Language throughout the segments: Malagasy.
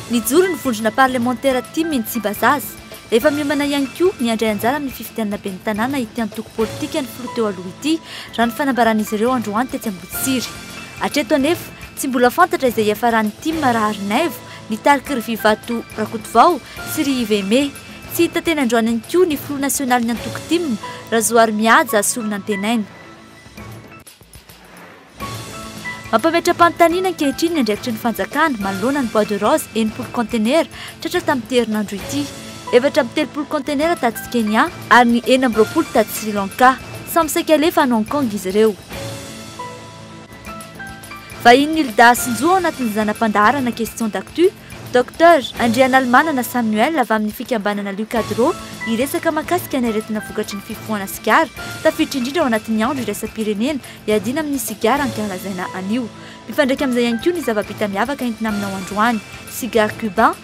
Nijoro ny vondrona parlemantera Tim eny Tsimbazaza. Efa miomana ihany koa ny handray anjara amin'ny fifidianana ben'ny tanàna ity antoko politika ny filoha teo aloha ity, raha ny fanambaran'izy ireo androany tetsy Amboditsiry. Hatreto anefa, tsy mbola fantatra izay hiafaran'ny Tim raha ary Naivo, Nitarika ry Vivato Rakotovao sy ry Yves Aimé. Tsy hita teny androany ihany koa ny filoha nasionalin'ny antoko tim, Razoarimihaja Solonantenaina. Mampametra-panontaniana ankehitriny ny andraikitry ny fanjakana manoloana ny bois de rose enimpolo kaontenera tratra tamin'ity herinandro ity. Efatra amby telopolo kaontenera tatsy Kenya ary ny enina amby roapolo tatsy Sri Lanka. Samy saika alefa any Hong Kong izy ireo. Vahiny Nilda Sinjo ao anatin'ny zana-pandaharana Questions d'actu, Docteur Andrianalimanana Samuel avy amin'ny fikambanana Lucadro hiresaka mahakasika ny aretina vokatry ny fifohana sigara, tafiditra indrindra ao anatin'ny andro iraisam-pirenena hiadiana amin'ny sigara ankahalazaina anio. Mifandraika amin'izay ihany koa ny zava-bita miavaka entina aminao androany, Cigare Cubain,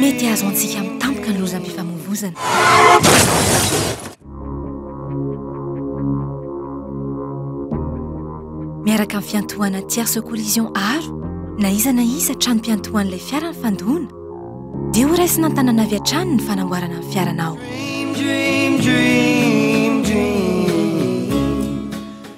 Mety azo antsika amin'ny tampoka ny lozam-pifamoivoizana. Miaraka amin'ny fiantohana tierce collision aro na iza na iza tranom-piantohan'ilay fiara ny fandoana, dia ho raisina an-tanana avy hatrany ny fanamboarana ny fiaranao.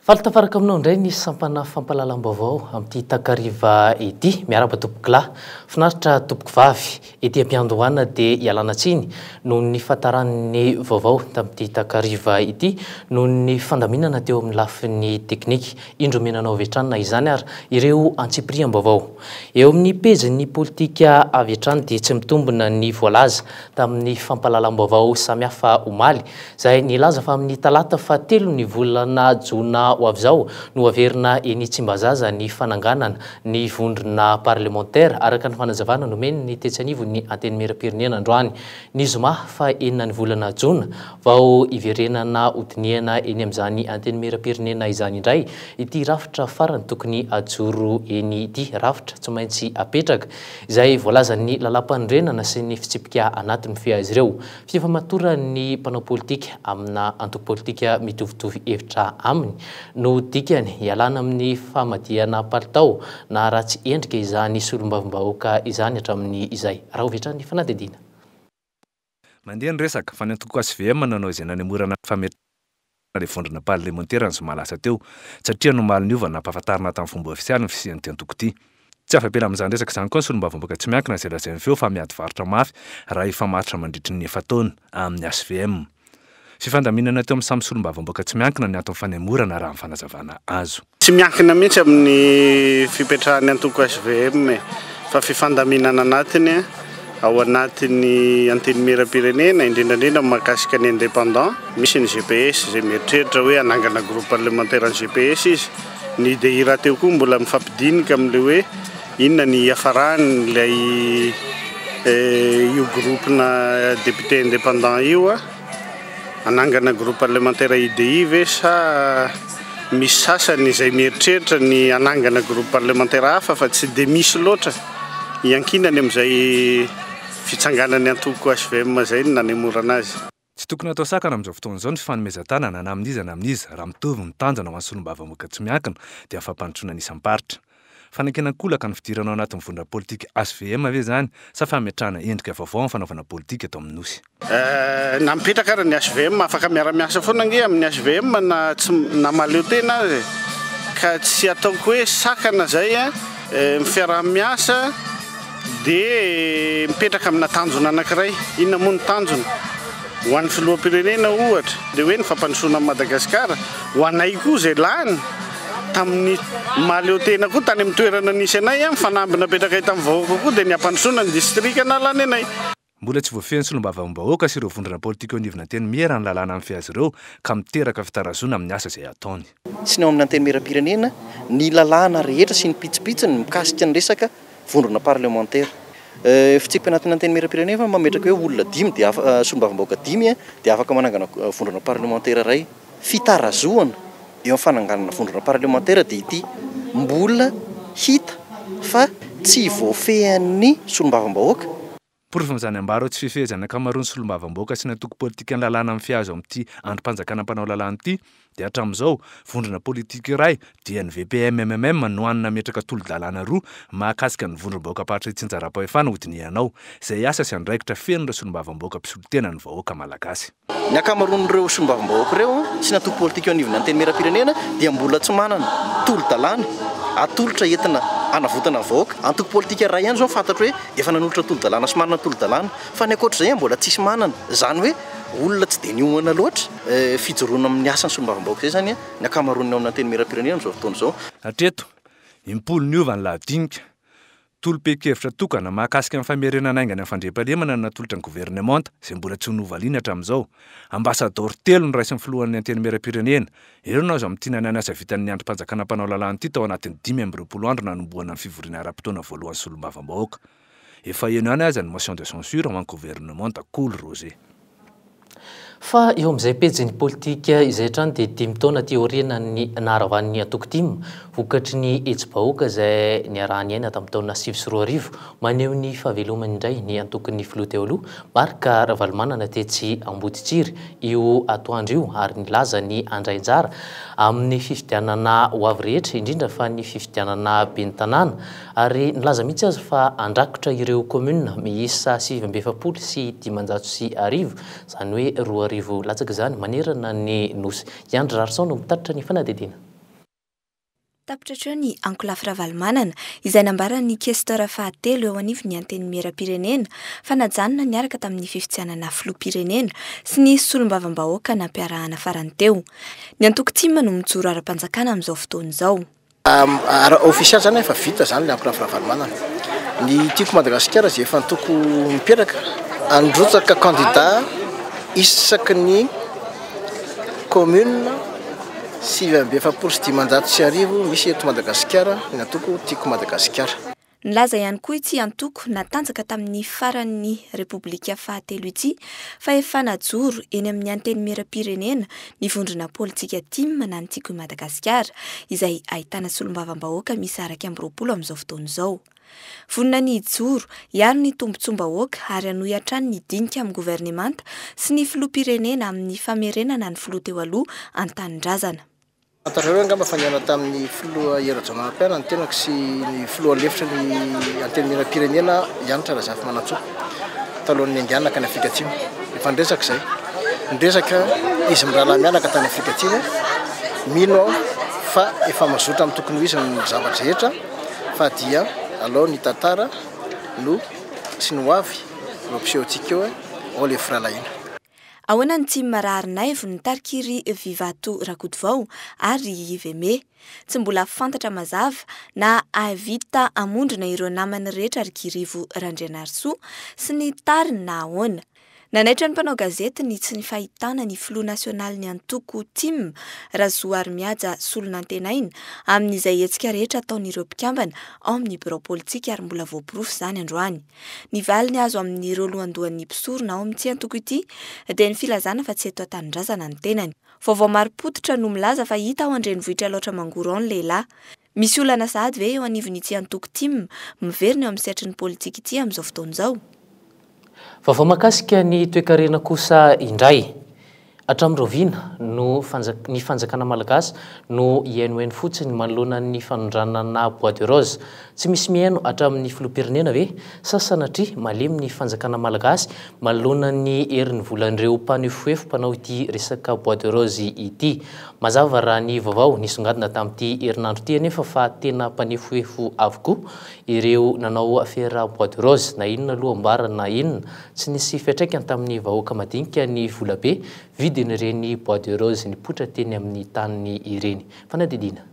Faly tafaraka aminao indray ny sampana fampahalalam-baovao amin'ity takariva ity. Miarahaba tompokolahy. Finaritra tompokovavy. Ety am-piandohana dia ialana tsiny noho ny fahataran'ny vaovao tamin'ity takariva ity noho ny fandaminana teo amin'ny lafiny teknika. Indro omena anao avy hatrany na izany ary ireo antsipiriam-baovao. Eo amin'ny pejin'ny politika avy hatrany dia tsy mitombina ny voalaza tamin'ny fampahalalam-baovao samihafa omaly, izay nilaza fa amin'ny talata fahatelon'ny volana jona ho avy izao no haverina eny Tsimbazaza ny fananganana ny vondrona parlemantera, araka ny fanazavana nomen'ny tetsy anivon'ny Antenimierampirenena androany ny zoma fahenina ny volana jona, vao hiverenana hodinihana eny amin'izany Antenimierampirenena izany indray ity rafitra farany tokony hajoro eny ity, rafitra tsy maintsy apetraka. izay voalazan'ny Lalàmpanorenana sy ny fitsipika anaty mifehy azy ireo, fifamatoran'ny mpanao politika amina antoko politika mitovitovy hevitra aminy no dikany, ialana amin'ny famadihana palitao na ratsy endrika izany solombavambahoaka izany hatramin'ny izay. Rahovitrany fanadihadiana. Mandeha ny resaka, fa ny antoko HVM nanao izay nanemorana ny fametrahana ilay vondrona parlemantera ny zoma lasa teo, satria ny omaly niova nampahafantarina tamin'ny fomba ofisialy ny fisian'ity antoko ity. Tsy afa-bela amin'izany resaka izany koa ny solombavambahoaka tsy miankina izay lazain'ny feo fa miady varotra mafy raha hifamatotra mandritry ny efa-taona amin'ny HVM. Fifandaminana teo amin'ny samy solombavambahoaka tsy miankina ny anton'ny fanemorana raha ny fanazavana azo. Tsy miankina mihitsy amin'ny fipetrahan'ny antoko HVM e, fa fifandaminana anatiny ao anatin'ny Antenimierampirenena, indrindra indrindra mahakasika ny indépendant, misy ny GPS izay mieritreritra hoe hanangana groupe parlementaire an'ny GPS izy, ny UDI rahateo koa mbola mifampidinika amin'ilay hoe inona ny hiafaran'ilay io groupe-na député indépendant io. Hanangana groupe parlementaire UDI ve sa misy sasany izay mieritreritra ny hanangana groupe parlementaire hafa fa tsy dia misy loatra hiankinany amin'izay fitsanganan'ny antoko HVM izay no nanemorana azy. Tsy tokony atao sakana amin'izao fotoana izao ny fifanomezan-tanana na amin'iza na amin'iza raha mitovy ny tanjona ho an'ny solombavambahoaka tsy miankina dia ny fampandrosoana ny isam-paritra. Fanekena an-kolaka ny fidirana ao anatin'ny vondrona politika HVM ve izany sa fametrahana endrika vaovao amin'ny fanaovana politika eto amin'ny Nosy? Na mipetraka ary ny HVM, afaka miara-miasa foana ange amin'ny HVM na tsy, na mahaleo tena aza e. Ka tsy ataoko hoe sakana izay an, ny fiaraha-miasa dia mipetraka amina tanjona anankiray. Inona moa ny tanjona? Ho an'ny filoham-pirenena ohatra dia hoe ny fampandrosoana an'i Madagasikara, ho anay koa izay lany. Tamin'ny maha leo tena koa tany amin'ny toerana nisy anay ny fanamby napetrakay tamin'ny vahoaka koa dia ny hampandrosoana ny distrika nahalany anay. Mbola tsy voafehy ny solombavambahoaka sy ireo vondrona politika eo anivon'ny Antenimiera ny lalàna mifehy azy ireo ka miteraka fitarazoana amin'ny asa izay ataony. sy ny ao amin'ny Antenimieram-pirenena ny lalàna rehetra sy ny pitsopitsony mikasika ny resaka vondrona parlemantera. Fitsipiky anatin'ny Antenimieram-pirenena fa mametraka hoe olona dimy dia afaka, solombavambahoaka dimy dia afaka manangana vondrona parlemantera iray. fitarazohana eo amin'ny fananganana vondrona parlemantera dia ity mbola hita fa tsy voafehin'ny solombavambahoaka. Porofon'izany ambara eo tsy fifehezan'ny ankamaroan'ny solombavambahoaka sy ny antoko politikan'ny lalàna mifihazo amin'ity andrim-panjakana mpanao lalàna ity dia hatramin'izao vondrona politika iray dian'ny VPMMM no hany nametraka tolo-dalàna roa mahakasika ny vondrom-bahoakam-paritra itsinjaram-pahefana hodinihanao izay asa sy andraikitra fenon'ireo solombavambahoaka mpisolo tena ny vahoaka malagasy. Ny ankamaroan'ireo solombavambahoaka ireo sy ny antoko politika eo anivon'ny Antenimierampirenena dia mbola tsy manana tolo-dalàna atolotra entina hanavotana ny vahoaka. Antoko politika iray ihany izao no fantatro hoe efa nanolotra tolo-dalàna sy manana tolo-dalàna fa ny ankoatra izay mbola tsisy manana. Izany hoe olona tsy dia niomana loatra fijoroana amin'ny asan'ny solombavambahoaka izay izany ny ankamaroan'ny ao amin'ny Antenimierampirenena amin'izao fotoana izao. Hatreto, im-polo niova ny lahadinika Tolom-pehinkevitra tokana mahakasika ny famerenana haingana ny fandriampahalemana no natolotra ny governemanta, izay mbola tsy novaliany hatramin'izao. Ambasadaoro telo no raisin'ny filohan'ny Antenimierampirenena. Ireo no azo amintinana ny asa vitan'ny andrim-panjakana mpanao lalàna ity tao anatin'ny dimy amby roapolo andro nanombohana ny fivoriana ara-potoana voalohan'ny solombavambahoaka. Efa heno ihany aza ny motion de censure ho an'ny governemanta, Kolo Roger. Fa eo amin'izay pejin'ny politika izay hatrany dia dimy taona aty aorianan'ny naharavan'ny antoko tim, vokatry ny hetsi-bahoaka izay niaraha-niaina tamin'ny taona sivy sy roa arivo, maneho ny fahavelomany indray ny antokon'ny filoha teo aloha, Marc Ravalomanana tetsy Amboditsiry, io atoandro io ary nilaza ny handray anjara amin'ny fifidianana ho avy rehetra, indrindra fa ny fifidianana ben'ny tanàna. ary nilaza mihitsy aza fa handrakotra ireo kaominina miisa sivy amby efapolo sy dimanjato sy arivo, izany hoe roa arivo latsaka izany, manerana ny Nosy. I Andry Rarison no mitatitra ny fanadihadiana. Tapitra hatreo ny ankolafy Ravalomanana, izay nambaran'ny Questeur fahatelo eo anivon'ny Antenimierampirenena fa najanona niaraka tamin'ny fifidianana filoham-pirenena sy ny solombavambahoaka nampiarahana farany teo. Ny antoko tim no mijoro ara-panjakana amin'izao fotoana izao. Raha ofisialy izany efa vita izany ilay ankolafy Ravalomanana. Ny tiako Madagasikara izay efa antoko mipetraka. Handrotsaka kandida isaky ny kaominina sivy amby efapolo sy dimanjato sy arivo misy eto Madagasikara ny antoko Tiako Madagasikara. Nilaza ihany koa ity antoko natanjaka tamin'ny faran'ny Repoblika fahatelo ity fa efa najoro eny amin'ny Antenimieram-pirenena ny vondrona politika Tim na ny Tiako i Madagasikara izay ahitana solombavambahoaka miisa iraika amby roapolo amin'izao fotoana izao. Vonona ny hijoro, hiaro ny tombontsoam-bahoaka ary hanohy hatrany ny dinika amin'ny governemanta sy ny filoham-pirenena amin'ny famerenana ny filoha teo aloha an-tanindrazana. Fantatrareo angamba fa nihaona tamin'ny filoha Hery Rajaonarimpiana ny tenako sy ny filoha lefitry ny Antenimierampirenena aho, Hanitra Razafimanantsoa, talohan'ny niandianana tany Afrika Atsimo. Efa niresaka izay. Niresaka izy mirahalahy mianaka tany Afrika Atsimo. Mino aho fa efa mazotra amin'ny tokony ho izy ny zava-drehetra fa dia alao ny tantara no sy ny hoavy no ampisehoantsika eo, ao ilay firahalahiana. Ahoana ny tsy mararinaivy nitarik'i ry Vivato Rakotovao ary ry Yveme? Tsy mbola fantatra mazava na hahavita hamondrona ireo namany rehetra ry Kirivo Randrianarisoa sy ny tariny na ahoana. Nanaitra ny mpanao gazety ny tsy fahitana ny filoha nasionalin'ny antoko tim, Razoarimihaja Solonantenaina, amin'izay hetsika rehetra ataon'ireo mpikambana ao amin'ny birao politika ary mbola voaporofo izany androany. Ny valiny azo amin'ireo lohandohan'ny mpisorona ao amin'ity antoko ity dia ny filazana fa tsy eto an-tanindrazana ny tenany. Vaovao marim-pototra no milaza fa hita ao an-drenivohitr'i Alaotra Mangoro ao ny lehilahy. Misy olana sahady ve eo anivon'ity antoko tim miverina eo amin'ny sehatry ny politika ity amin'izao fotoana izao? Vaovao mahakasika ny toekarena kosa indray. Hatramin'ny rahoviana no ny fanjakana malagasy no hihainohaino fotsiny manoloana ny fanondranana bois de rose? Tsy misy mihaino hatramin'ny filoham-pirenena ve? Sa sanatria malemy ny fanjakana malagasy manoloana ny herin'ny volan'ireo mpanefoefo mpanao ity resaka bois de rose ity? Mazava raha ny vaovao nisongadina tamin'ity herinandro ity anefa fa tena mpanefoefo avokoa ireo nanao afera bois de rose na inona aloha ambara na inona Tsy nisy fiantraikany tamin'ny vahoaka madinika ny volabe vidin'ireny bois de rose nipoitra teny amin'ny taniny ireny. Fanadihadiana.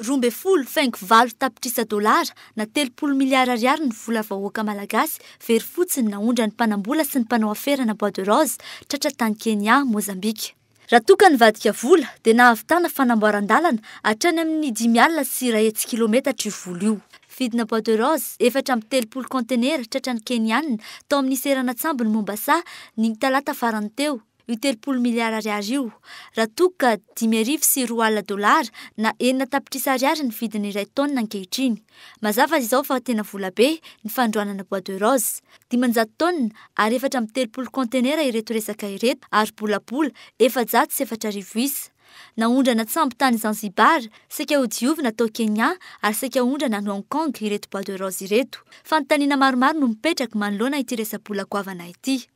Roa ambin'ny folo faingo valo tapitrisa dolara na telopolo miliara ariary ny vola vahoaka malagasy very fotsiny naondran'ny mpanambola sy ny mpanao aferana bois de rose tratra tany Kenya, Mozambika. Raha toa ka nivadika vola dia nahavitana fanamboaran-dalana hatrany amin'ny dimy alina sy iray hetsy kilometatra io vola io. Vidina bois de rose efatra amby telopolo kaontenera tratran'ny Keniana tao amin'ny seranan-tsambon'i Mombasa ny talata farany teo io telopolo miliara ariary io, raha toa ka dimy arivo sy roa alina dolara na enina tapitrisa ariary ny vidin'ny iray taonina ankehitriny. Mazava izao fa tena volabe ny fandroanana bois de rose. Dimanjato taonina ary efatra amby telopolo kaontenera ireto resaka ireto ary bolabola efajato sy efatra arivo isa. Naondrana an-tsambo tany Zanzibar, saika hodiovina tao Kenya ary saika hondrana any Hong Kong ireto bois de rose ireto. Fanontaniana maromaro no mipetraka manoloana ity resa-bola goavana ity.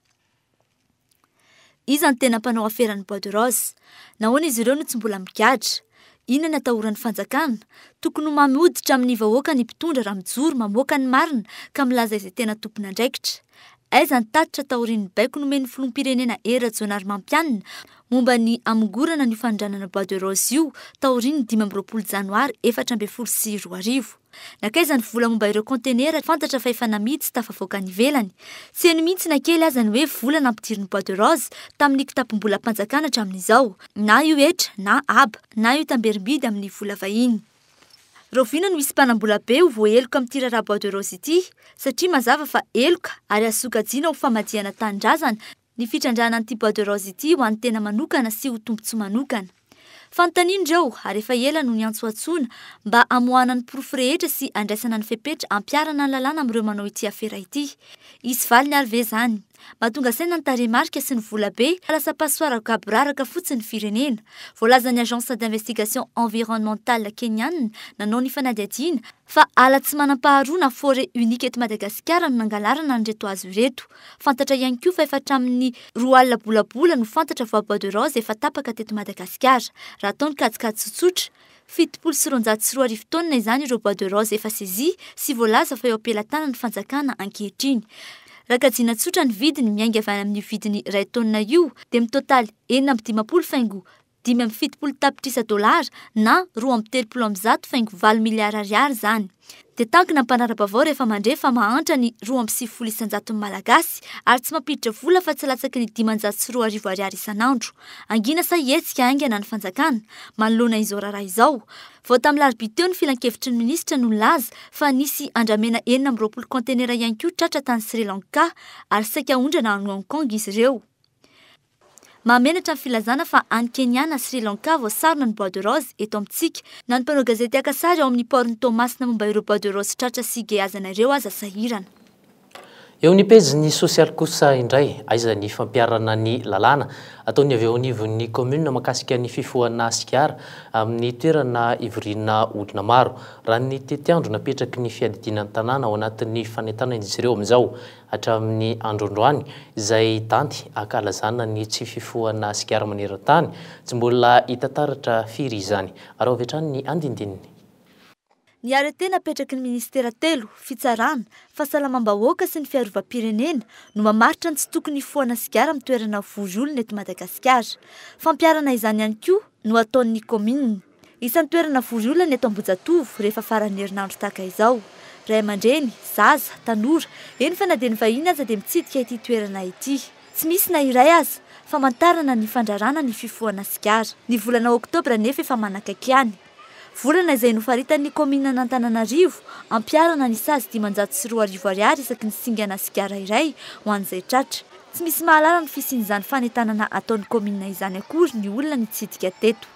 Iza no tena mpanao aferan'ny bois de rose? Nahoana izy ireo no tsy mbola migadra? Inona no atahoran'ny fanjakana? Tokony ho mamy hoditra amin'ny vahoaka ny mpitondra raha mijoro mamoaka ny marina ka milaza izay tena tompon'andraikitra. Aiza ny tatitra taorian'ny baiko nomen'ny filoham-pirenena Hery Rajaonarimampianina momba ny hamongorana ny fanondranana bois de rose io taorian'ny dimy amby roapolo janoary efatra ambin'ny folo sy roa arivo? Nankaiza ny vola momba ireo kaontenera fantatra fa efa namidy sy tafavoaka any ivelany? Tsy heno mihitsy na kely aza ny hoe vola nampidirin'ny Bois de Rose tamin'ny kitapom-bolam-panjakana hatramin'izao. Na io hetra na haba, na io tamberim-bidy amin'ny vola vahiny. Rahoviana no hisy mpanam-bola be ho voaheloka amin'ity raharaha Bois de Rose ity? Satria mazava fa heloka ary azo sokajiana ho famadihana tanindrazana ny fitrandrahana an'ity bois de rose ity ho an'ny tena manokana sy ho tombontsoa manokana. Fanontaniana ireo ary efa ela no niantsoantsoana mba hamoahana ny porofo rehetra sy handraisana ny fepetra hampiharana ny lalàna amin'ireo manao ity afera ity. Hisy valiny ary ve izany? Mba tonga saina ny tarehimarika sy ny vola be ka lasa passoire gaboraraka fotsiny ny firenena. Voalazan'ny Agence d'Investigation Environnementale Kenyana nanao ny fanadihadiana fa ala tsy manam-paharoa na forêt unique eto Madagasikara no nangalarana an'ireto hazo ireto. Fantatra ihany koa fa efa hatramin'ny roa alina bolabola no fantatra fa bois de rose efa tapaka teto Madagasikara. Raha atao ny kajikajy tsotsotra, fitopolo sy roanjato sy roa arivo taonina izany ireo bois de rose efa sezia sy voalaza fa eo am-pelatanan'ny fanjakana ankehitriny. Raha kajiana tsotra ny vidiny miainga avy any amin'io vidiny iray taonina io dia mitotaly enina amby dimampolo faingo dimy amby fitopolo tapitrisa dolara na roa amby telopolo amby zato faingo valo miliara ariary izany. Dia tankina ny mpanara-baovao rehefa mandre fa mahantra ny roa amby sivifolo isan-jaton'ny Malagasy ary tsy mampiditra vola afa-tsy latsaky ny dimanjato sy roa arivo ariary isan'andro. Hangina sa hihetsika haingana ny fanjakana manoloana izao raharaha izao? Vao tamin'ny larobia teo ny filankevitry ny minisitra no nilaza fa nisy andramena enina amby roapolo kaontenera ihany koa tratra tany Sri Lanka ary saika aondrana any Hong Kong izy ireo. Mahamenatra ny filazana fa any Kenya na Sri Lanka vao sarona ny bois de rose eto amintsika. Na ny mpanao gazety haka sary ao amin'ny port-n'i Toamasina momba ireo bois de rose tratra sy geazana ireo aza sahirana. Eo amin'ny pejin'ny sosialy kosa indray, aiza ny fampiharana ny lalàna ataon'ny avy eo anivon'ny kaominina mahakasika ny fifohana sigara amin'ny toerana ivoriana olona maro. Raha ny tetiandro napetraky ny fiadidiana ny tanàna ao anatin'ny fanentanana izy ireo amin'izao, hatramin'ny androandroany, izay danty ankalazana ny tsy fifohana sigara maneran-tany, tsy mbola hita taratra firy izany. Araho avy hatrany ny andindininy. Ny arrêté napetraky ny minisitera telo, Fitsarana, Fahasalamam-bahoaka sy ny Fiarovam-pirenena, no mamaritra ny tsy tokony hifohana sigara amin'ny toerana vory olona eto Madagasikara. Fampiharana izany ihany koa no ataon'ny kaominina. Isan'ny toerana vory olana eto Ambohijatovo rehefa faran'ny herinandro tahaka izao. Ray aman-dreny, zaza, tanora, eny fa na dia ny vahiny aza dia mitsidika ity toerana ity. Tsy misy na iray aza famantarana ny fandraràna ny fifohana sigara. Ny volana oktobra anefa efa manakaiky ihany. Volana izay nofaritan'ny kaomininan'Antananarivo ampiharana ny sazy dimanjato sy roa arivo ariary isaky ny singana sigara iray ho an'izay tratra. Tsy misy mahalala ny fisian'izany fanentanana ataon'ny kaominina izany akory ny olona nitsidika teto.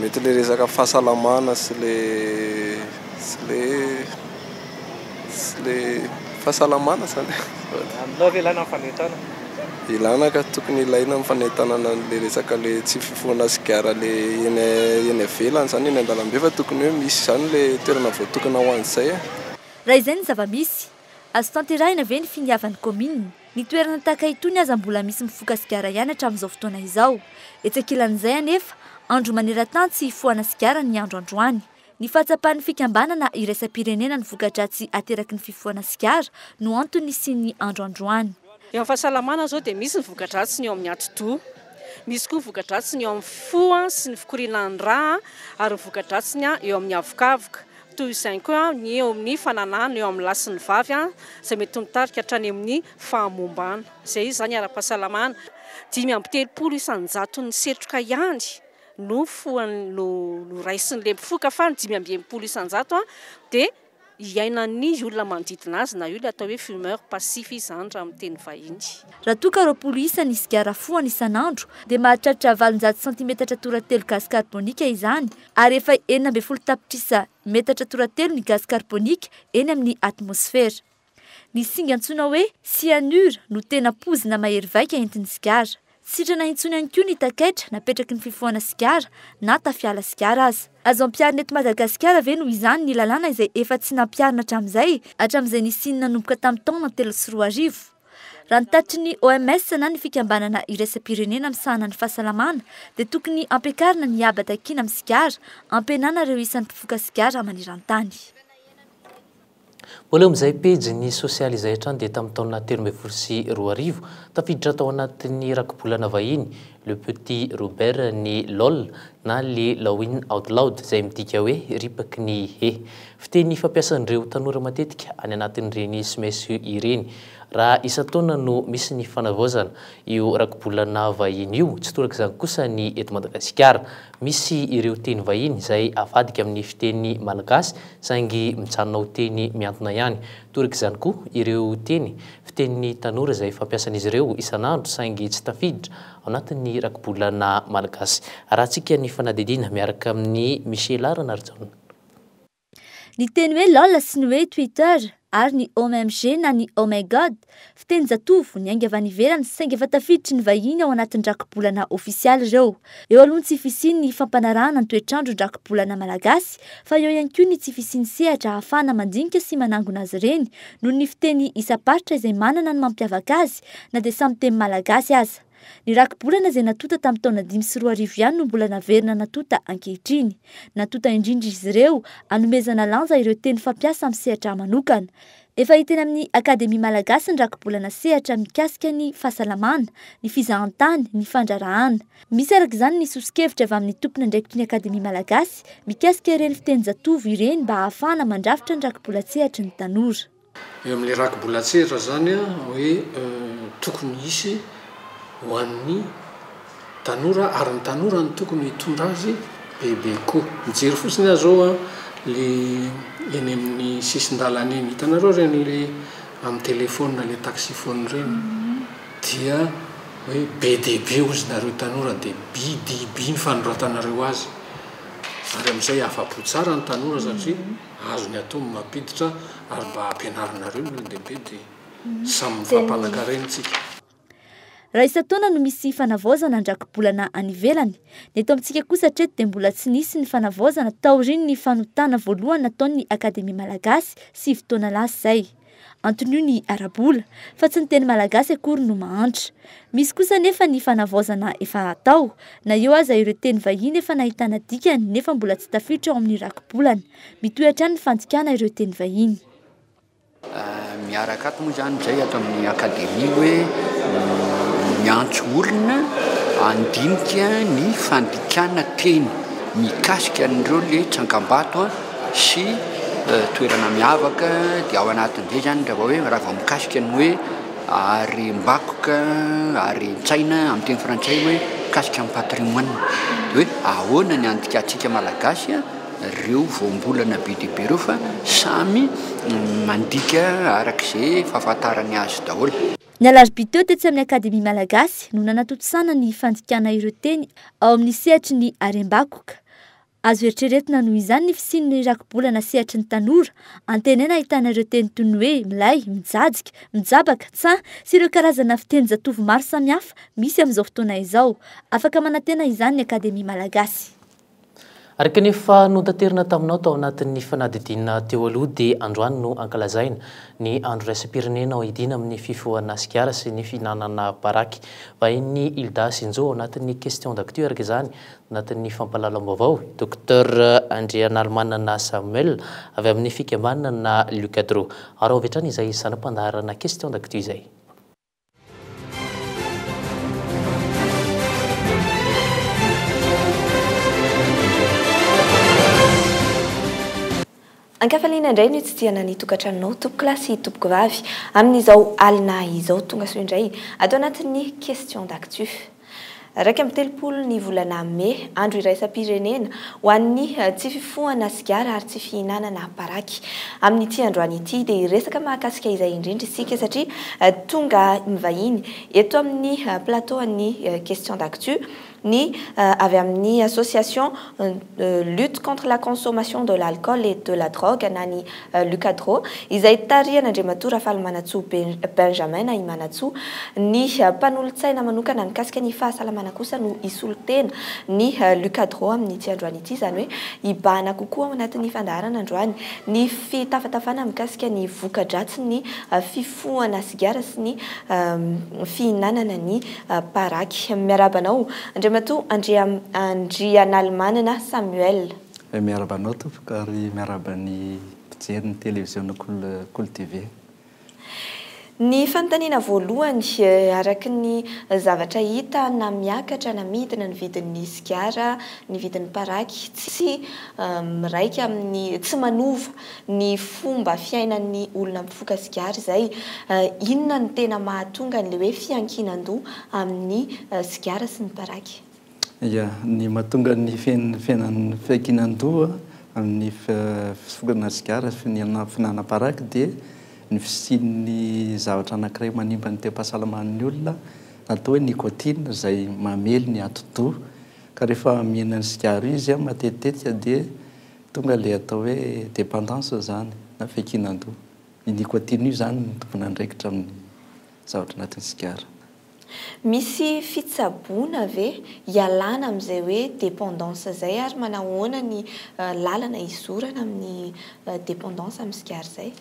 Mety le resaka fahasalamana sy le sy le sy le fahasalamana zany Ilana ka, tokony ilaina ny fanentanana an'le resaka le tsy fifohana sigara le eny eny ivelany zany eny an-dalambe fa tokony hoe misy zany le toerana voatokana ho an'izay e. Raha izay ny zava-misy, azo tanterahina ve ny finiavan'ny kaominina? Ny toerana tahaka itony aza mbola misy mifoka sigara ihany hatramin'izao fotoana izao. Etsy ankilan'izay anefa, andro manerantany tsy hifohana sigara ny andro androany. Ny fahatsapan'ny fikambanana iraisam-pirenena ny voka-dratsy ateraky ny fifohana sigara no antony nisian'ny andro androany. Eo amin'ny fahasalamana izao dia misy ny voka-dratsiny eo amin'ny atidoha, misy koa ny voka-dratsiny eo amin'ny fo sy ny fikorianan'ny rà ary ny voka-dratsiny eo amin'ny havokavoka. Toy izany koa ny eo amin'ny fananahana eo amin'ny lahy sy ny vavy izay mety ho nitarika hatrany amin'ny fahamombana. Izay izy izany ara-pahasalamana. Dimy amby telopolo isan-jaton'ny setroka ihany no noraisin'ilay mpifoka fa ny dimy amby enimpolo isan-jato dia iainan'ny olona manodidina azy na io ilay atao hoe fumeur passif izany raha amin'ny teny vahiny. Raha toa ka roapolo isa ny sigara fohana isan'andro dia mahatratra valonjato santimetatra tora telo gasy karbonika izany. ary efa enina ambin'ny folo tapitrisa metatra toratelo ny gazy karbonika eny amin'ny atmosfera. Ny singa antsoina hoe cyanure no tena poizina mahery vaika entin'ny sigara. Tsy sitrana intsony ihany koa ny takaitra napetraky ny fifohana sigara na tafiala sigara aza. Azo ampiharina eto Madagasikara ve noho izany ny lalàna izay efa tsy nampiharina hatramin'izay, hatramin'izay nisian'ny nanomboka tamin'ny taona telo sy roa arivo? Raha ny tatitry ny OMS na ny fikambanana iraisam-pirenena misahana ny fahasalamana dia tokony hampiakarina ny haba takiana amin'ny sigara, hampihenana ireo isan'ny mpifoka sigara maneran-tany. Mbola eo amin'izay pejy ny sosialy izay hatrany dia tamin'ny taona telo ambin'ny folo sy roa arivo, tafiditra tao anatin'ny rakibolana vahiny Le Petit Robert ny lol na le Lawin Out Loud izay midika hoe ripaky ny hehy. Fiteny fampiasan'ireo tanora matetika any anatin'ireny sms ireny. Raha isan-taona no misy ny fanavaozana io rakibolana vahiny io, tsy toraka izany kosa ny eto Madagasikara. Misy ireo teny vahiny izay avadika amin'ny fiteny malagasy saingy mijanona ho teny mihantona ihany. Toraka izany koa ireo teny fitenin'ny tanora izay fampiasan'izy ireo isan'andro saingy tsy tafiditra ao anatin'ny rakibolana malagasy. Arahantsika ny fanadihadiana miaraka amin'i Micheal Ranarijaona. Ny teny hoe lol sy ny hoe twitter ary ny omg na ny oh my god, fitenin-jatovo niainga avy any ivelany saingy efa tafiditry ny vahiny ao anatin'ny rakibolana ofisialy ireo. Eo aloha ny tsy fisian'ny fampanarahana ny toetr'andro ny rakibolana malagasy fa eo ihany koa ny tsy fisian'ny sehatra ahafahana mandinika sy manangona azy ireny noho ny fiteny isam-paritra izay manana ny mampiavaka azy na dia samy teny malagasy aza. Ny rakibolana izay natonta tamin'ny taona dimy sy roa arivo ihany no mbola naverina natonta ankehitriny. Natonta indrindra izy ireo hanomezana lanja ireo teny fampiasa amin'ny sehatra manokana. Efa hita eny amin'ny Akademia Malagasy ny rakibolana sehatra mikasika ny fahasalamana, ny fizahantany, ny fandraharahana. Misy araka izany ny soso-kevitra avy amin'ny tompon'andraikitry ny Akademia Malagasy mikasika ireny fitenin-jatovo ireny mba hahafahana mandrafitra ny rakibolan-tsehatry ny tanora. Eo amin'ny rakibolatserra izany hoe tokony hisy ho an'ny tanora ary ny tanora no tokony hitondra azy bebe koa. Mijery fotsiny aho izao le eny amin'ny sisin-dalana eny, hitanareo ireny le amin'ny telefaonina le taxi-phone ireny dia hoe be dia be hozy nareo tanora dia by dia by ny fanoratanareo azy ary amin'izay afa-po tsara ny tanora satria Azony atao ny mampiditra ary mba ampianarinareo ny olon-dehibe dia samy mifampanan-karena isika. Raha isan-taona no misy fanavaozana an-drakibolana any ivelany. Ny eto amintsika kosa hatreto dia mbola tsy nisy ny fanavaozana taorian'ny fanotana voalohany nataon'ny Akademia Malagasy sivy taona lasa izay. Anton'io ny ara-bola, fa tsy ny teny malagasy akory no mahantra. Misy kosa anefa ny fanavaozana efa atao, na eo aza ireo teny vahiny efa nahitana dikany nefa mbola tsy tafiditra ao amin'ny rakibolana. Mitohy hatrany ny fandikana ireo teny vahiny. Miaraka ato moa izany izay ato amin'ny Akademia hoe miantso olona handinika ny fandikana teny mikasika an'ireo ilay tsangambato. sy toerana miavaka dia ao anatin'izay izany raha vao hoe raha vao mikasika ny hoe harem-bakoka, haren-tsaina amin'ny teny frantsay hoe mikasika ny patrimoine. Dia hoe ahoana ny andikantsika malagasy ireo voambolana be dia be ireo fa samy mandika araka izay fahafantarany azy daholo. Ny alarobia teo tetsy amin'ny Akademia Malagasy no nanatontosana ny fandikana ireo teny ao amin'ny sehatry ny harem-bakoka. Azo eritreretina noho izany ny fisian'ny rakibolana sehatry ny tanora. Antenaina ahitana ireo teny toy ny hoe milay, mijajika, mijabaka, tsaha sy ireo karazana fitenin-jatovo maro samihafa misy amin'izao fotoana izao. Afaka manantena izany ny Akademia Malagasy. Araka ny efa notaterina taminao tao anatin'ny fanadidina teo aloha dia androany no ankalazaina ny andro iraisam-pirenena hoidina amin'ny fifohana sigara sy ny fihinanana baraky. Vahain'ny Hilda sy Njo ao anatin'ny Question d'actu araka izany Anatin'ny fampahalalam-baovao, i Docteur Andrianarimanana Samuel, avy amin'ny fikambanana Lucadro. Araho avy hatrany izay saram-pandaharana Questions d'actu izay. Ankafaliana indray ny hotsidihana ny tokantranonao tompokolahy sy tompokovavy amin'izao alina izao. Tongasoa indray ato anatin'ny Question d'actu. Iraika amby telopolo ny volana Mey, andro iraisam-pirenena ho an'ny tsy fifohana sigara ary tsy fihinanana paraky. Amin'ity androany ity dia hiresaka mahakasika izay indrindra isika satria tonga mivahiny eto amin'ny plateau an'ny Question d'actu ny avy amin'ny Association de lutte contre la consommation de l'alcool et de la drogue na ny Lucadro izay tarihan'Andriamatoa Rafalimanantsoa Benjamin na i Manantsoa. Ny mpanolotsaina manokana mikasika ny fahasalamana kosa no hisolo tena ny Lucadro amin'ity androany ity, izany hoe hibahana kokoa ao anatin'ny fandaharana androany ny fitafatafana mikasika ny voka-dratsin'ny fifohana fohana sigara sy ny fihinanana ny paraky. Miarahaba anao Andriamatoa Andrianalimanana Samuel. Miarahaba anao tompoko ary miarahaba ny mpijery ny televiziona Kolo TV. Ny fanontaniana voalohany, araka ny zavatra hita na miakatra na midina ny vidin'ny sigara, ny vidin'ny paraky tsy miraika amin'ny, tsy manova ny fomba fiainan'ny olona mifoka sigara izay. Inona no tena mahatonga an'ilay hoe fiankinan-doha amin'ny sigara sy ny paraky? Ia, ny mahatonga ny fiainan'ny fiankinan-doha amin'ny fisokana sigara sy ny fihinanana paraky dia ny fisian'ny zavatra anankiray manimba ny tem-pahasalaman'ny olona atao hoe nicotine izay mamely ny atidoha ka rehefa mihinana sigara izy matetika dia Tonga le atao hoe dependance izany na fekinan-doha. Ny nicotine io izany no tompon'andraikitra amin'ny zavatra anatin'ny sigara. Misy fitsaboana ve hialana amin'izay hoe dependance izay ary manahoana ny lalana hizorana amin'ny dependance amin'ny sigara izay?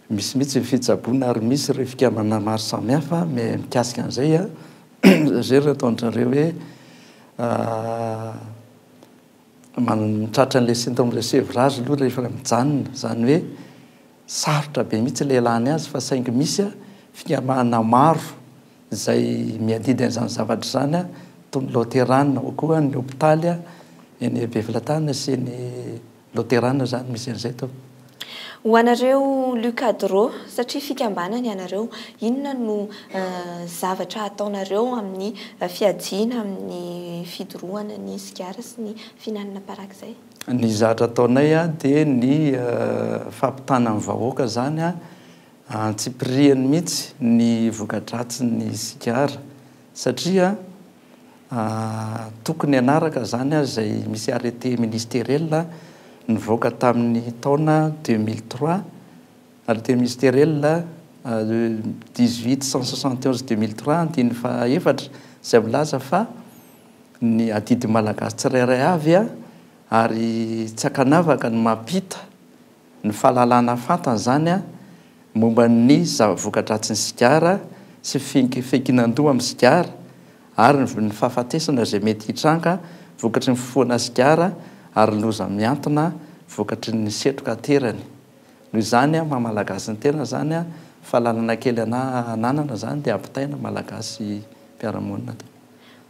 Misy mihitsy ny fitsaboana ary misy ireo fikambanana maro samihafa mikasika an'izay an. Zay ry ataon'dry zareo hoe Tratra an'ilay symptôme de sevrage aloha rehefa mijanona, izany hoe sarotra be mihitsy ilay ialana azy fa saingy misy fikambanana maro izay miadidy an'izany zavatra izany toy ny Loterana ao koa ny hopitaly eny Befelatanana sy eny Loterana izany misy an'izay toa. Ho anareo Lucadro, satria fikambanana ianareo, inona no zavatra ataonareo amin'ny fiajiana amin'ny fidorohana ny sigara sy ny fihinanana parak'izay? Ny zatra ataonay dia ny fampitana ny vahoaka izany antsipirihany mihitsy ny voka-dratsin'ny sigara satria Tokony hanaraka izany ary izay misy arrêté ministeriel nivoaka tamin'ny taona deux mille trois, arrêté ministeriel dix huit cent soixante et onze deux mille trois andininy faha efatra, izay milaza fa ny adidin'ny Malagasy tsirairay avy ary tsy ankanavaka ny mampita, ny fahalalana fantany izany momba ny zava-vokadratsin'ny sigara sy ny fiankinan-doha amin'ny sigara ary ny fahafatesana izay mety hitranga vokatry ny fifohana sigara ary ny loza mihantona vokatry ny setroka aterany. Noho izany maha Malagasy ny tena izany fahalalana kely ananana izany dia ampitaina Malagasy mpiara-monina.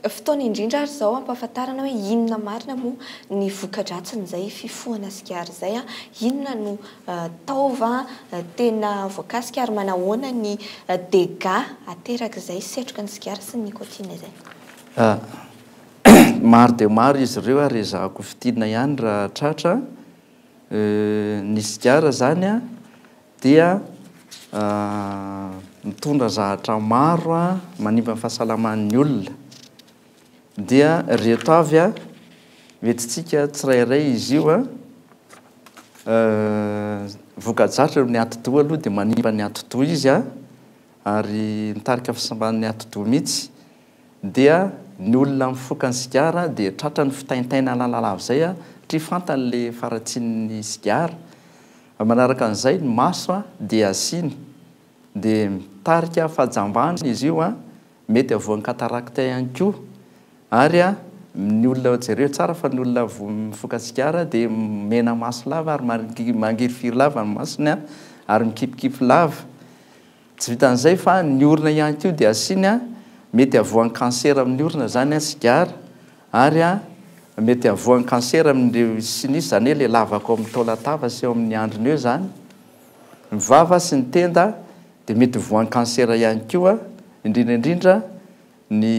Fotoana indrindra ary izao hampahafantarana hoe inona marina moa ny voka-dratsin'izay fifohana sigara izay, inona no taova tena voakasika ary manahoana ny dégâts aterak'izay setroka ny sigara sy ny nicotine izay. Maro dia maro izy ireo ary ezahako fintinina ihany raha tratra. Ny sigara izany dia mitondra zahatra maro manimba ny fahasalaman'ny olona dia reto avy a hoentintsika tsirairay izy io a voka-dratsiny amin'ny atidoha aloha dia manimba ny atidoha izy a ary mitarika fahasimban'ny atidoha mihitsy dia ny olona mifoka ny sigara dia tratran'ny fitaintainana lavalava izay a satria fantany le faharatsian'ny sigara Manaraka an'izay ny maso dia asiany dia mitarika fahajambana izy io, mety havoan'ny cataracte ihany koa ary ny olona, jereo tsara fa ny olona mifoka sigara dia mena maso lava ary mangirifiry lava ny masony ary mikipikipy lava. Tsy vitan'izay fa ny orona ihany koa dia asiany mety havoan'ny cancer amin'ny orona zany an sigara ary an mety havoan'ny cancer amin'ireo sy ny sisa zany hoe ilay lavaka ao amin'ny taolatava sy eo amin'ny andriny eo zany ny vava sy ny tenda dia mety ho voan'ny cancer ihany koa indrindra indrindra ny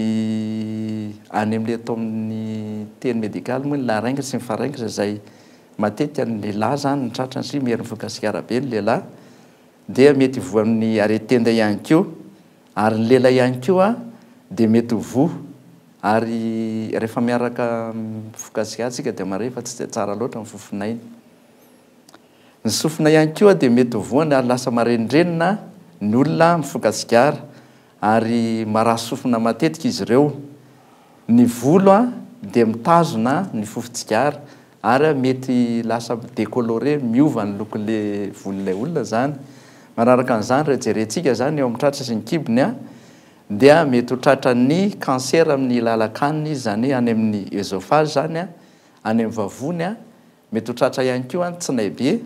any amin'ilay atao amin'ny teny medical moa ny larynx sy ny pharynx izay matetika ny lehilahy zany no tratrany satria miery mivoaka sigara be ny lehilahy dia mety voa amin'ny aretin-tenda ihany koa ary ny lela ihany koa dia mety ho voa ary rehefa miaraka amin'ny fokatsiatsika dia mahare fa tsy dia tsara loatra ny fofon'aina. Ny sofina ihany koa dia mety ho voany ary lasa marenindrenina ny olona mifoka-tsigara ary maraha sofina matetika izy ireo. Ny volo dia mitazona ny fofon-tsigara ary mety lasa mi-decolore, miova ny lokon'ilay volon'ilay olona izany. Manaraka an'izany, raha jerentsika izany eo amin'ny tratra sy ny kibony dia mety ho tratran'ny kansera amin'ny lalan-kanina izy, izany hoe any amin'ny oesophage izany, any amin'ny vavony. Mety ho tratra ihany koa ny tsinaibe,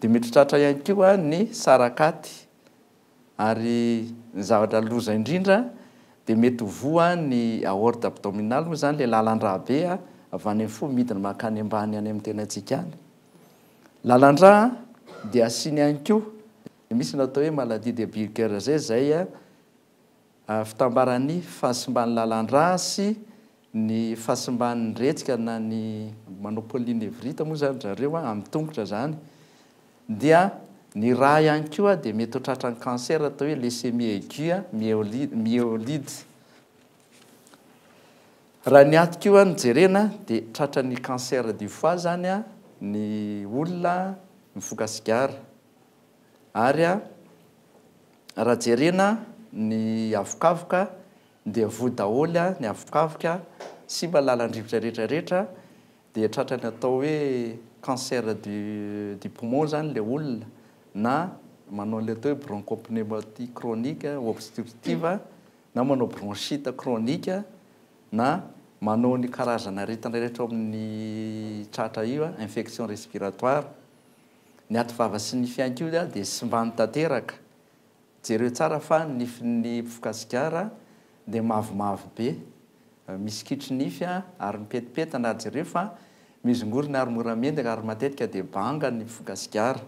dia mety ho tratra ihany koa ny sarakaty. ary ny zavatra loza indrindra dia mety ho voa ny aorte abdominale moa izany ilay lalan-drà be avy any amin'ny fo midina mankany ambany any amin'ny tenantsika any. Lalan-drà dia asiany ihany koa dia misy ny atao hoe maladie de Buerger izay fitambaran'ny fahasimban'ny lalan-drà sy Ny fahasimban'ny retsika na ny monopoly ny vrita moa izany ry zareo an, amin'ny tongotra izany, dia ny rà ihany koa dia mety ho tratran'ny cancer atao hoe leucémie aiguë myeoli myeloid. Raha ny aty koa no jerena dia tratran'ny cancer du foie izany an ny olona mifoka sigara. Ary an, raha jerena ny avokavoka Dia voa daholo ny avokavoka, simba lalan-drivotra rehetra rehetra, dia tratran'ny atao hoe cancer du du poumon zany le olona, na manao an'le atao hoe bronchopneumonie chronique obstructive, na manao bronchite chronique, na manao ny karazana aretina rehetra ao amin'ny tratra io, infection respiratoire. Ny aty vava sy nify ihany koa dia simbany tanteraka, Jereo tsara fa ny nifin'ny mpifoka sigara dia mavomavo be, misy kitro nify ary mipetipetana, jereo fa mizongorona ary mora mendaka ary matetika dia banga ny mpifoka sigara.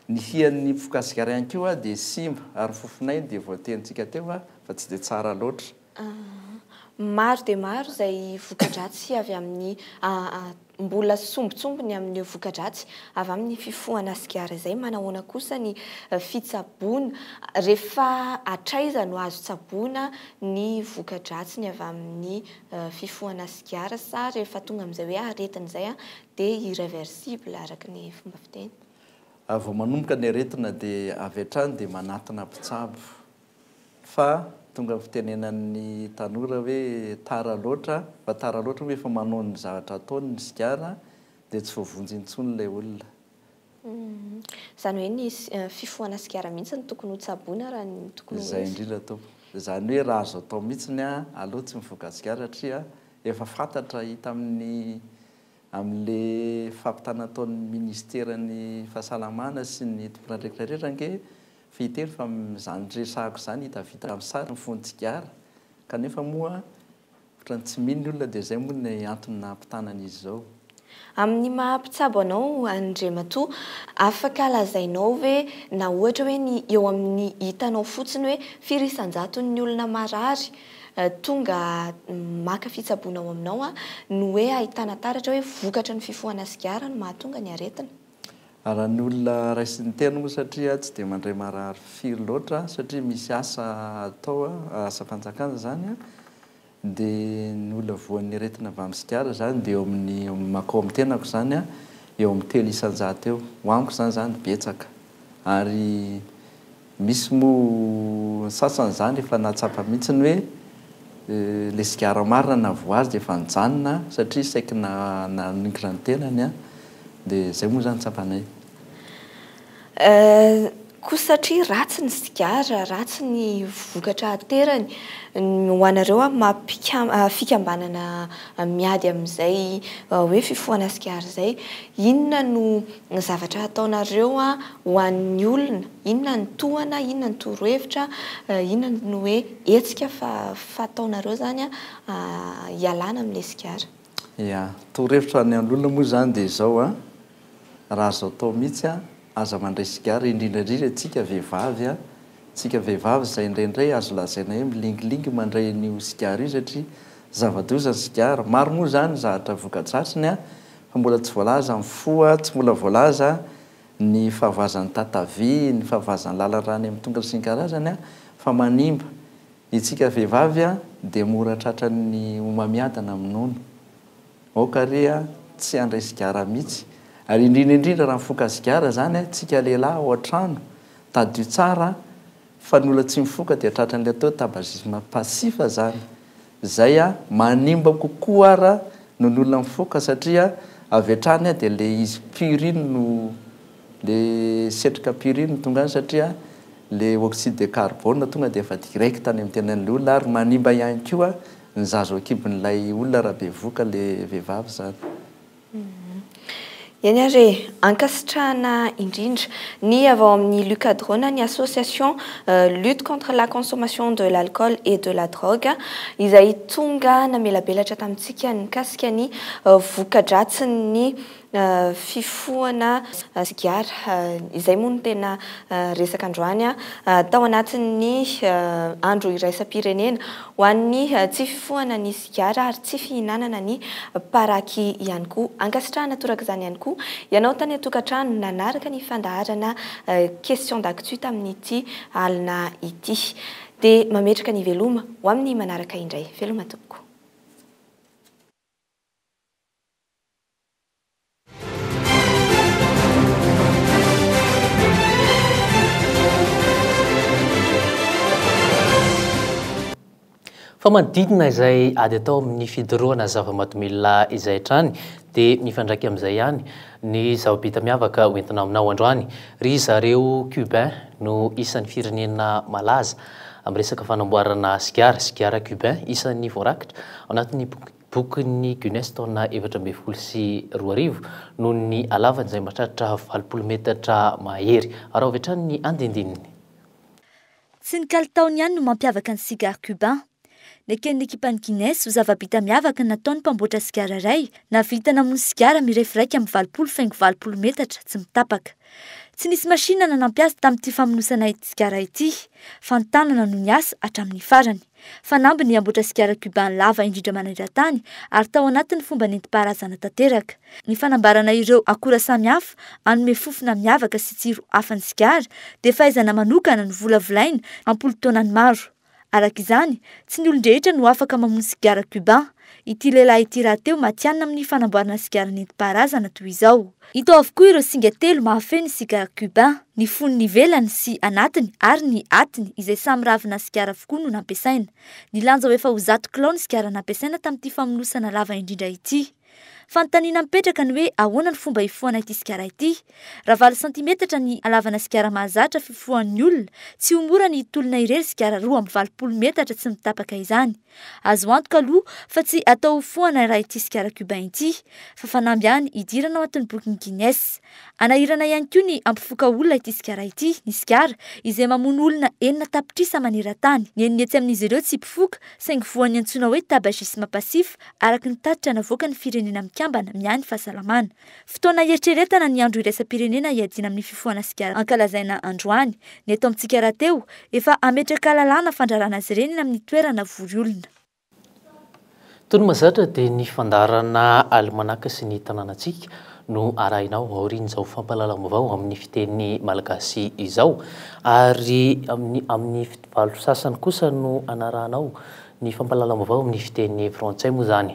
Ny hian'ny mpifoka sigara ihany koa dia simba ary fofonay dia voatenintsika teo fa tsy dia tsara loatra. Maro dia maro izay voka-dratsy avy amin'ny. Mbola sombintsombiny amin'ireo voka-dratsy avy amin'ny fifohana sigara izay. Manahoana kosa ny fitsaboana? Rehefa hatraiza no azo tsaboina ny voka-dratsiny avy amin'ny fifohana sigara? Sa rehefa tonga amin'izay hoe aretina izay dia irreversible araka ny fomba fiteny? Vao manomboka ny aretina dia avy hatrany dia manatona mpitsabo. fa tonga ny fitenenan'ny tanora hoe tara loatra fa tara loatra moa efa manao ny zavatra ataony ny sigara dia tsy voavonjy intsony ilay olona. Izany hoe ny fifohana sigara mihitsy no tokony ho tsaboina raha ny tokony ho izy. Izay indrindra tompoko. Izany hoe raha azo atao mihitsy ny aleo tsy mifoka sigara satria efa fantatra hita amin'ny amin'ilay fampitana ataon'ny ministeran'ny fahasalamana sy ny tomponandraikitra rehetra ange Fehitelo, Fa amin'izany resahako izany hita vita amin'ny sary ny fon'ny tsigara, kanefa moa ohatran'ny tsy mino ny olona dia izay moa ny antony nahampitana an'izy izao. Amin'ny maha mpitsabo anao Andriamatoa, afaka lazainao ve na ohatra hoe ny eo amin'ny hitanao fotsiny hoe firy isan-jaton'ny olona marary tonga maka fitsaboana ao aminao no hoe ahitana taratra hoe vokatry ny fifohana sigara no mahatonga ny aretina? Raha ny olona raisin'ny teny moa satria tsy dia mandray marary firy loatra aho satria misy asa atao aho, asam-panjakana izany a, dia ny olona voan'ny aretina avy amin'ny sigara izany dia eo amin'ny, mankao amin'ny tenako izany a, eo amin'ny telo isan-jato eo. Ho amiko izany izany betsaka ary. Misy moa ny sasany izany efa nahatsapa mihitsy ny hoe ilay sigara marina na voazy dia efa nijanona satria saiky naningina ny tenany an! dia izay moa izany tsapanay. Koa satria ratsy ny sigara, ratsy ny vokatra aterany, ny ho anareo amin'ny maha mpikam fikambanana miady amin'izay hoe fifohana sigara izay, inona no zavatra ataonareo an! Ho an'ny olona, inona ny tohana, inona ny torohevitra, inona ny hoe hetsika fataonareo zany hialana amin'ilay sigara? Ia, torohevitra any an'olona moa zany dia izao an, raha azo atao mihitsy an, aza mandray sigara indrindra indrindra antsika vehivavy an, antsika vehivavy izay indraindray azo lazaina hoe milingilingy mandray an'io sigara io satria zava-doza ny sigara, maro moa zany ny zavatra voka-dratsiny an, fa mbola tsy voalaza ny fo an, tsy mbola voalaza an. ny fahavazan'ny tatavy, ny fahavazan'ny lalarany amin'ny tongony sy ny karazany, fa manimba. Ny antsika vehivavy dia mora tratran'ny homamiadana amin'ny nono. Aoka àry tsy handray sigara mihitsy. Ary indrindra indrindra raha mifoka sigara izany antsika lehilahy ao an-trano, tadidio tsara fa ny olona tsy mifoka dia tratran'ilay atao hoe tabagisme passif izany. Zay a, manimba kokoa ara noho ny olona mifoka satria avy hatrany a dia le izy purine no le setroka purine no tonga any satria le oxyde de carbone tonga dia efa direct any amin'ny tenan'ilay olona ary manimba ihany koa ny zaza ao an-kibon'ilay olona raha bevoka le vehivavy zany. Eny ary e! Ankasitrahana indrindra. Ny avy ao amin'ny Lucadrone, ny association lutte contre la consommation de l'alcool et de la drogue, izay tonga namelabelatra tamintsika ny mikasika ny voka-dratsin'ny fifohana sigara, izay moa no tena resaka androany, tao anatin'ny andro iraisam-pirenena ho an'ny tsy fifohana ny sigara. sigara ary tsy fihinanana ny paraky ihany koa. Ankasitrahana toraka izany ihany koa ianao tany an-tokantrano nanaraka ny fandaharana Questions d'Actu tamin'ity alina ity. Dia mametraka ny veloma ho amin'ny manaraka indray. Veloma tompoko. Fa manodidina izay ady atao amin'ny fidorohana zava-mahadomelina izay hatrany dia mifandraika amin'izay ihany ny zava-bita miavaka ho entina aminao androany. Ry zareo Cubain no isan'ny firenena malaza amin'ny resaka fanamboarana sigara, sigara Cubain, isan'ny voarakitra ao anatin'ny boky Bokin'ny Guinness taona efatra ambin'ny folo sy roa arivo noho ny halavany izay mahatratra valopolo metatra mahery. Araho avy hatrany ny andinindininy. Tsy ny kalitaony ihany no mampiavaka ny sigara Cubain. Neken'ny ekipan'ny Guinness ho zava-bita miavaka ny nataon'ny mpamboatra sigara iray nahavita namono sigara mirefy iraika amby valopolo faingo valopolo metatra tsy mitapaka. Tsy nisy machine nanampy azy tamin'ity famonosana ity sigara ity fa ny tanana no niasa hatramin'ny farany. Fanamby ny hamboatra sigara cuban lava indrindra maneran-tany ary tao anatin'ny fomba nentim-paharazana tanteraka. Ny fanambarana ireo akora samihafa hanome fofona miavaka sy tsiro hafa ny sigara dia fahaizana manokana novolavolaina am-polotaonany maro. Araka izany, tsy ny olon-drehetra no afaka mamono sigara cuban. Ity lehilahy ity rahateo matihanina amin'ny fanamboarana sigara nentim-paharazana toy izao. Hita ao avokoa ireo singa telo mahafehy ny sigara Cubain. Ny fonony ivelany sy anatiny ary ny atiny izay samy ravina sigara avokoa no nampiasaina. Nilanja ho efa ho zato kilao ny sigara nampiasaina tamin'ity famonosana lava indrindra ity. Fanontaniana mipetraka ny hoe ahoana no fomba hifohana ity sigara ity? Raha valo santimetatra ny halavana sigara mahazatra fifohan'ny olona, tsy ho mora ny hitolona irery sigara roa amby valopolo metatra tsy mitapaka izany. Azo antoka aloha fa tsy atao ho fohana raha ity sigara Cubain ity fa fanamby ihany hidirana ao anatin'ny bokin'ny Guinness. Hanahirana ihany koa ny hampifoka olona ity sigara ity ny sigara izay mamono olona enina tapitrisa maneran-tany. Ny enina etsy amin'izy ireo tsy mpifoka saingy voan'ny antsoina hoe tabagisme passif araka ny tatitra navoakan'ny Firenena Mikambana miahy ny Fahasalamana. Fotoana hieritreretana ny andro iraisam-pirenena hiadiana amin'ny fifohana sigara ankalazaina androany. Ny eto amintsika rahateo, efa hametraka lalàna fandrarana azy ireny eny amin'ny toerana vory olona. Tony Mahazatra dia ny fandaharana alimanaka sy ny tanànantsika no arahina ao aorian'izao fampahalalam-baovao amin'ny fiteny malagasy izao ary amin'ny amin'ny valo sasany kosa no anarahana ao Ny fampahalalam-baovao amin'ny fiteny frantsay moa izany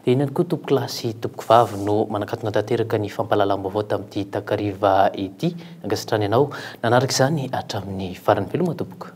dia inona tokoa tompoko lahy sy tompoko vavy no manakatona tanteraka ny fampahalalam-baovao tamin'ity takariva ity. Ankasitrahana ianao nanaraka izany hatramin'ny farany. Veloma tompoko.